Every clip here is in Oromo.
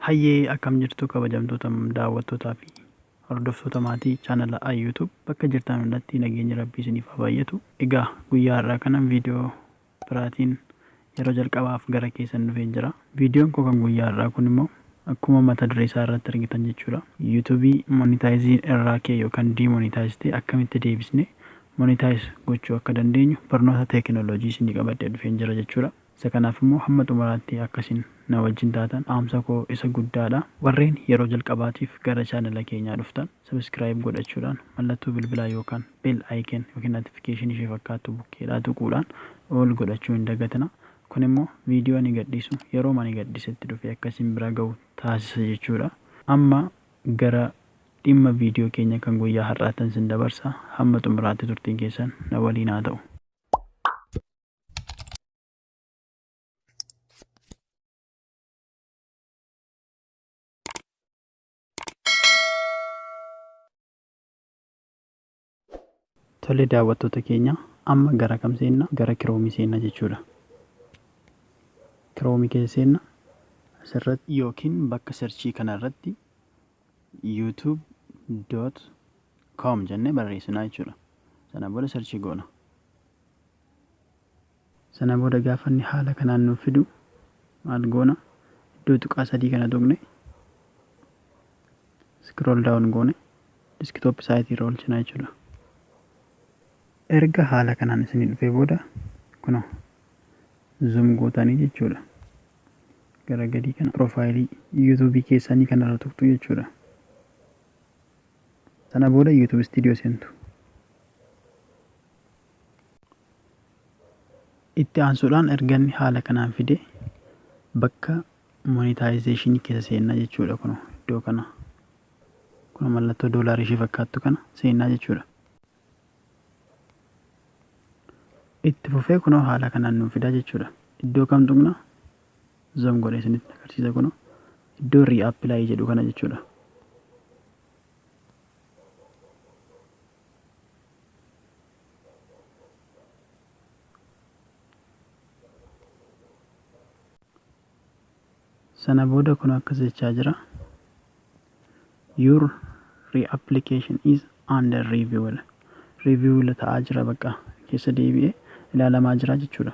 Hayyee akkam jirtu kabajamtoota daawwattootaa fi hordoftoota maatii chaanala Ayyuu Tube bakka jirtaan hundatti nageenyi rabbii isiniif haa baay'atu. Egaa guyyaa har'aa kanan viidiyoo biraatiin yeroo jalqabaaf gara keessan dhufeen jira. Viidiyoon koo kan guyyaa har'aa kun immoo akkuma mata duree isaa irratti argitan jechuudha. YouTube monetizing irraa kee yookaan demonetize ta'e akkamitti deebisnee monetize gochuu akka dandeenyu barnoota teekinooloojii isinii qabadhee dhufeen jira jechuudha. Isa kanaaf immoo hamma xumuraatti akka isin na wajjin taatan dhaamsa koo isa guddaa dha. Warreen yeroo jalqabaatiif gara channela keenyaa dhuftan subscribe godhachuudhaan mallattoo bilbilaa yookaan bell icon ykn notification ishee fakkaattu bukkeedhaa tuquudhaan all godhachuu hin dagatina. Kun immoo video ani gadhiisu yerooma ani gadhisetti dhufee akka isin bira ga'u taasisa jechuu dha. Amma gara dhimma video keenya kan guyyaa har'aattan isin dabarsa. Hamma xumuraatti turtiin keessan na waliin haa ta'u. Tole daawwattoota keenya amma gara kam seenna? Gara kiroomii seenna jechuudha. Kiroomii keessa seenna asirratti yookiin bakka serchii kanarratti youtube.com jennee barreessinaa jechuudha. Sana booda serchii goona. Sana booda gaafa inni haala kanaan nuuf fidu maal goona? Iddoo tuqaa sadii kana tuqne scroll down goone desktop site irra oolchina jechuudha. Erga haala kanaan isinii dhufee booda kuno zoom gootanii jechuudha. Gara gadii kana profaayilii YouTube keessanii kanarra tuqxu jechuudha. Sana booda YouTube studio seentu. Itti aansuudhaan erga inni haala kanaan fide bakka monetization keessa seennaa jechuudha kun iddoo kana kun mallattoo doolaarii ishee fakkaattu kana seennaa jechuudha. Itti fufee kunoo haala kanaan nuuf fidaa jechuudha. Iddoo kam tuqna? Zoom godhee isinitti agarsiisa kunoo iddoo reapply jedhu kana jechuudha. sana booda kun akkas jechaa jira your reapplication is under review review ta'aa jira bakka keessa deebi'ee ilaalamaa jira jechuudha.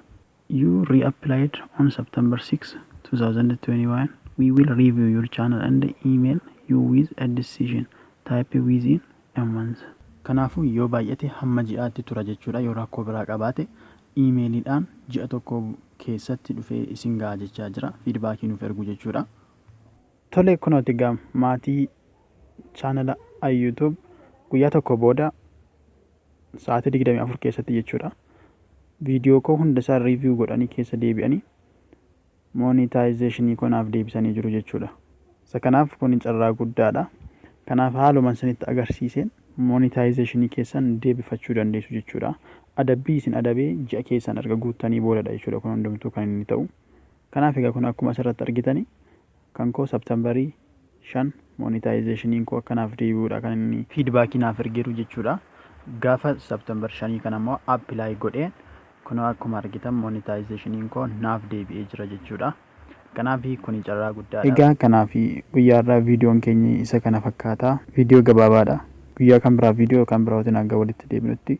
You reapplied on September 6, 2021. We will review your channel and email you with a decision type within a month. Kanaafuu yoo baay'ate hamma ji'aatti tura jechuudha yoo rakkoo biraa qabaate iimeeliidhaan ji'a tokko keessatti dhufee isin ga'a jechaa jira fiidbaakii nuuf ergu jechuudha. Tole kunooti egaa maatii chaanala YouTube guyyaa tokko booda sa'aatii 24 keessatti jechuudha. Viidiyoo koo hunda isaa riiviyuu godhanii keessa deebi'anii moonitaayizeeshinii koo naaf deebisanii jiru jechuudha. Isa kanaaf kun carraa guddaadha. Kanaaf haaluma isinitti agarsiiseen moonitaayizeeshinii keessan deebifachuu dandeessu jechuudha. Adabbii isin adabee ji'a keessan erga guuttanii boodadha jechuudha kun hundumtuu kan inni ta'u. Kanaaf egaa kun akkuma asirratti argitani kan koo September 5 monetization koo akka naaf deebi'uudha kan inni feedback naaf ergeeru jechuudha. Gaafa September 5 kana immoo apply godhee kunoo akkuma argitan monetization koo naaf deebi'ee jira jechuudha. Kanaaf kuni carraa guddaadha. Egaa kanaaf guyyaa irraa viidiyoon keenya isa kana fakkaata. Viidiyoo gabaabaadha. Guyyaa kan biraa viidiyoo kan biraatiin hanga walitti deebinutti